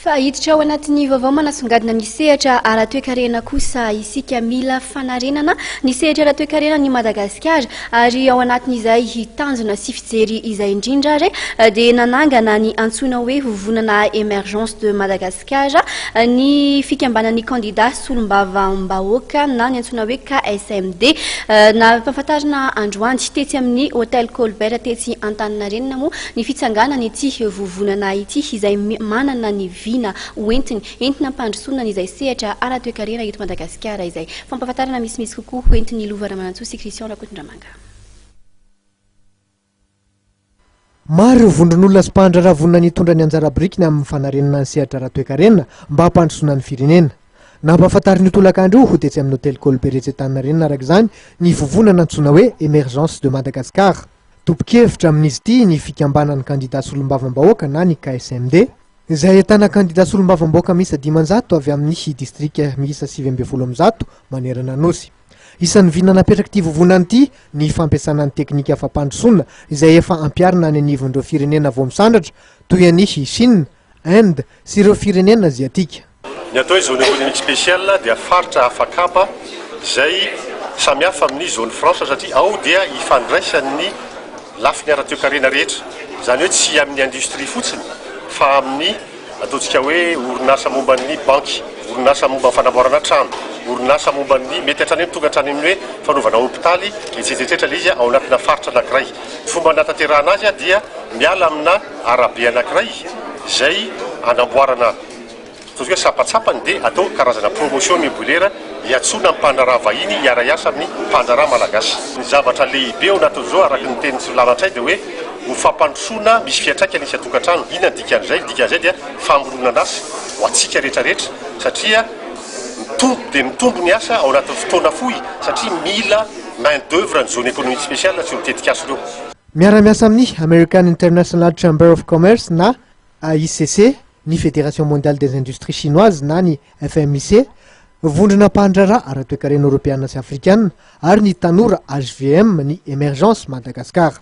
Fa hiditra ao anatin'ny vaovao manasongadina ny sehatra ara-toekarena kosa isika. Mila fanarenana ny sehatra ara-toekarenan'i Madagasikara ary ao anatin'izay tanjona sy fijery izay indrindra ary dia nanangana ny antsoina hoe Vovonana Emergence de Madagascar ny fikambanan'ny kandida solombavambahoaka na ny antsoina hoe KSMD. Nampahafantarina androany tetsy amin'ny Hotel Colbert tetsy Antaninarenina moa Ny fitsanganan' ity vovonana ity, izay manana ny vina hoentiny, entina hampandrosoana an' izay sehatra ara-toekarena eto Madagasikara izay. Fampahafantarana misimisy kokoa hoentin' i Lova Ramanantsoa sy Christian Rakotondramanga. Maro ireo vondron' olona sy mpahandraharaha vonona ny hitondra ny anjara birikiny amin' ny fanarenana ny sehatra ara-toekarena mba hampandrosoana ny firenena. Nampahafantarin' io tolakandro io ho tetsy amin' ny hotely Colbert etsy Antaninarenina araka izany ny vovonana antsoina hoe Emergence de Madagascar. Tompon-kevitra amin'izy ity ny fikambanan'ny kandida solombavambahoaka na ny KSMD, izay ahitana kandida solombavambahoaka miisa dimanjato avy amin'ny distrika miisa sivy ambin'ny folo amby zato manerana Anosy. Isan'ny vina napetrak'ity vovonana ity ny fampiasana ny teknika fampandrosoana izay efa ampiharina any anivon'ireo firenena vao misandratra toy an'i Chine, Inde sy ireo firenena aziatika. Ny atao hoe zone économique spéciale dia faritra hafa kapa izay samy hafa amin'ny zone franche satria ao dia ifandraisan'ny lafiny ara-toekarena rehetra. Izany hoe tsy amin'ny industrie fotsiny fa amin'ny ataontsika hoe orinasa momba ny banky, orinasa momba ny fanamboarana trano, orinasa momba ny mety hatrany amin'ny tonga hatrany amin'ny hoe fanaovana hopitaly etsetra etsetra ilay izy ao anatina faritra anankiray. Ny fomba hanatanterahana azy dia miala amina arabe anankiray izay anamboarana Ataontsika hoe sampatsapany dia atao karazana promotion mibolera hiantsoana ny mpandraharaha vahiny hiara-hiasa amin'ny mpandraharaha malagasy. Ny zavatra lehibe ao anatin'izao araka ny tenin'i Solilala Ntsay dia hoe ho fampandrosoana misy fiantraikany isan-tokantrano. Inona ny dikan'izay? Ny dikan'izay dia famoronan'asa ho antsika rehetra rehetra satria mitombo dia mitombo ny asa ao anatin'ny fotoana fohy satria mila main d'oeuvre ny zone économique spéciale sy ireo tetikasa ireo. Miara-miasa amin'ny American International Chamber of Commerce na AICC Ny Fédération Mondiale des Industries Chinoises na ny FMIC, vondrona mpandraharaha ara-toekarena Eoropeana sy Afrikana, ary ny Tanora hvm ny Emergence Madagascar.